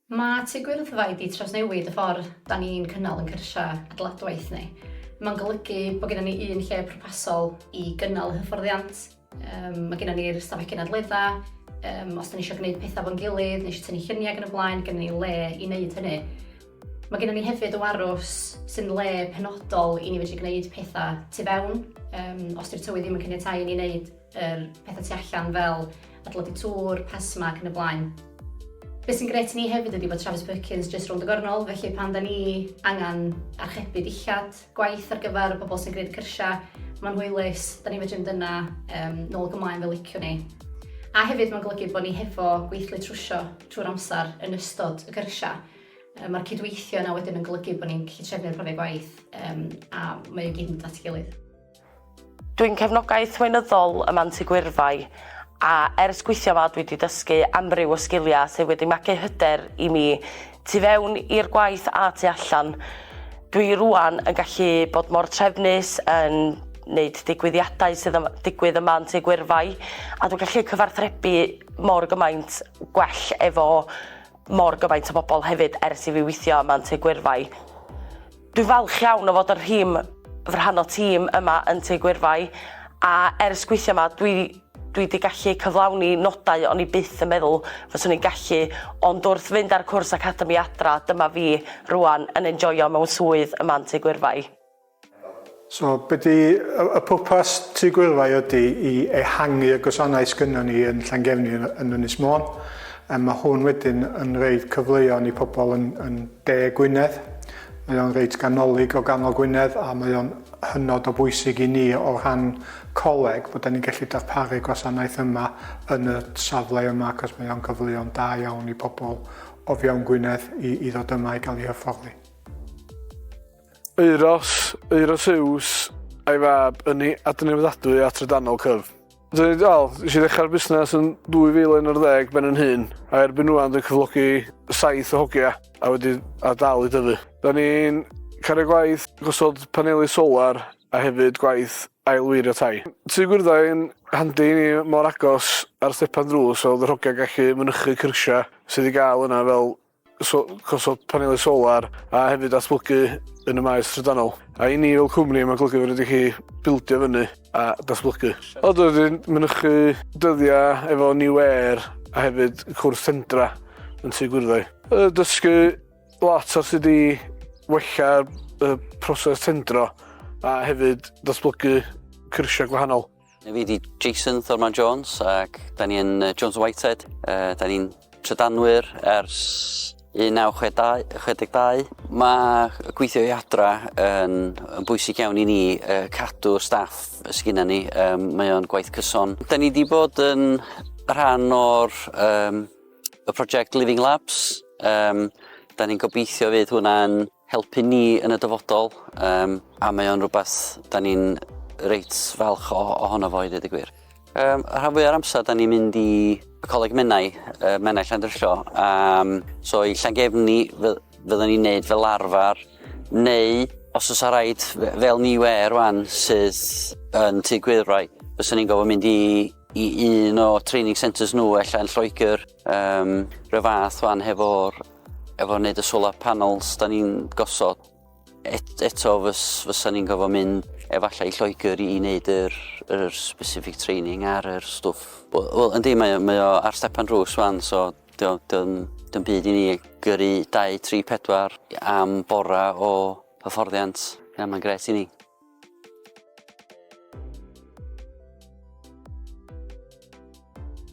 Mae Tŷ Gwyrddfa wedi trawsnewid y ffordd da ni'n cynnal yn cyrsiau adeiladwaith ni. Mae'n golygu bod gennym ni un lle pwrpasol i gynnal y hyfforddiant. Mae gennym ni'r stafell gynadleddau, os da ni eisiau gwneud pethau fo'n gilydd, neu eisiau tynnu lluniau ac yn y blaen, gennym ni le i wneud hynny. Mae gennym ni hefyd y warws sy'n le penodol i ni fedru gwneud pethau tu fewn, os di'r tywydd ddim yn caniatáu i ni wneud yr petha tu allan fel adeiladu tŵr, PESMA ac yn y blaen. Be sy'n gret i ni hefyd ydi bod Travis Perkins jyst rownd y gornol, felly pan 'da ni angen archebu dillad, gwaith ar gyfer y pobl sy'n gwneud y cyrsiau, mae'n hwylus, 'da ni'n fedru mynd yna um, nôl ac ymlaen fel liciwn ni. A hefyd mae'n golygu bod ni hefo gweithlu trwsio trwy'r amser yn ystod y cyrsiau. Um, Mae'r cydweithio yna wedyn yn golygu bod ni'n gallu trefnu'r profiad gwaith um, a mae o gyd yn dod at ei gilydd. Dwi'n cefnogaeth weinyddol y Manti Gwyrfai a ers gweithio yma dwi wedi dysgu amryw o sgiliau sydd wedi magu hyder i mi tu fewn i'r gwaith a tu allan. Dwi rwan yn gallu bod mor trefnus yn wneud digwyddiadau sydd yn digwydd ym Manti Gwyrfai a dwi'n gallu cyfarthrebu mor gymaint gwell efo mor gyfaint o bobl hefyd ers i fi weithio yma yn Tŷ Gwyrfai. Dwi'n falch iawn o fod yn rhim fy rhan o tîm yma yn Tŷ Gwyrfai a ers gweithio yma dwi dwi wedi gallu cyflawni nodau o'n i byth yn meddwl fyswn i'n gallu ond wrth fynd ar cwrs academi adra dyma fi rwan yn enjoio mewn swydd yma yn Tŷ Gwyrfai. So, be di y pwrpas Tŷ Gwyrfai ydi i ehangu y gwasanaeth sgynnon ni yn Llangefni yn Ynys Môn. Yym ma' hwn wedyn yn roid cyfleon i pobl yn yn De Gwynedd. Mae o'n reit ganolig o ganol Gwynedd a mae o'n hynod o bwysig i ni o rhan coleg bod 'da ni'n gallu darparu gwasanaeth yma yn y safle yma acos mae o'n gyfleon da iawn i pobl o fewn Gwynedd i i ddod yma i gael ei hyfforddi. Euros, Euroseus a'i fab ynni adnewyddadwy a trydanol cyf. Dwi'n dal, nes i ddechrau'r busnes yn 2011 ben yn hun, a erbyn nhw dwi'n cyflogi saith o hogia a wedi a dal i dyfu. Da ni'n cario gwaith gosod paneli solar a hefyd gwaith ailweirio tai. Tŷ gwyrddau yn handi i ni mor agos ar stepan drws oedd yr hogia'n gallu mynychu cyrsiau sydd i gael yna fel so, gosod panelau solar a hefyd datblygu yn y maes trydanol. A i ni fel cwmni mae'n golygu fod wedi chi bildio fyny a datblygu. O, dwi wedi mynychu dyddiau efo New Air a hefyd cwrs Sendra yn tu Gwyrddo. Dysgu lot ar sut i wella y proses tendro a hefyd datblygu cyrsiau gwahanol. Fi ydi Jason Thurman Jones ac da ni yn Jones Whitehead. Uh, da ni'n trydanwyr ers 1962. Mae gweithio i adra yn, yn bwysig iawn i ni uh, cadw staff sydd gennym ni. Um, mae o'n gwaith cyson. Da ni wedi bod yn rhan o'r um, y prosiect Living Labs. Um, da ni'n gobeithio fydd hwnna'n helpu ni yn y dyfodol um, a mae o'n rhywbeth da ni'n reit falch o, ohono fo i ddweud y gwir. Um, rhan fwy o'r amser da ni'n mynd i Coleg Menai, uh, Menai Llandrillo, um, so i Llangefni fyddwn ni'n neud fel arfer, neu os oes ar raid fel ni we rwan sydd yn tu gwyrwau, fyddwn ni'n gofyn mynd i, i un o training centres nhw allan Lloegr, Um, rhyw fath fan hefo'r efo wneud y solar panels da ni'n gosod. Et, eto fys, fysa ni'n gofod mynd efallai Lloegr i wneud yr, yr specific training ar yr stwff. Wel, yndi, mae, mae o ar stepan drws fan, so dy'n byd i ni gyrru 2, 3, 4 am bora o hyfforddiant. Ie, mae'n gret i ni.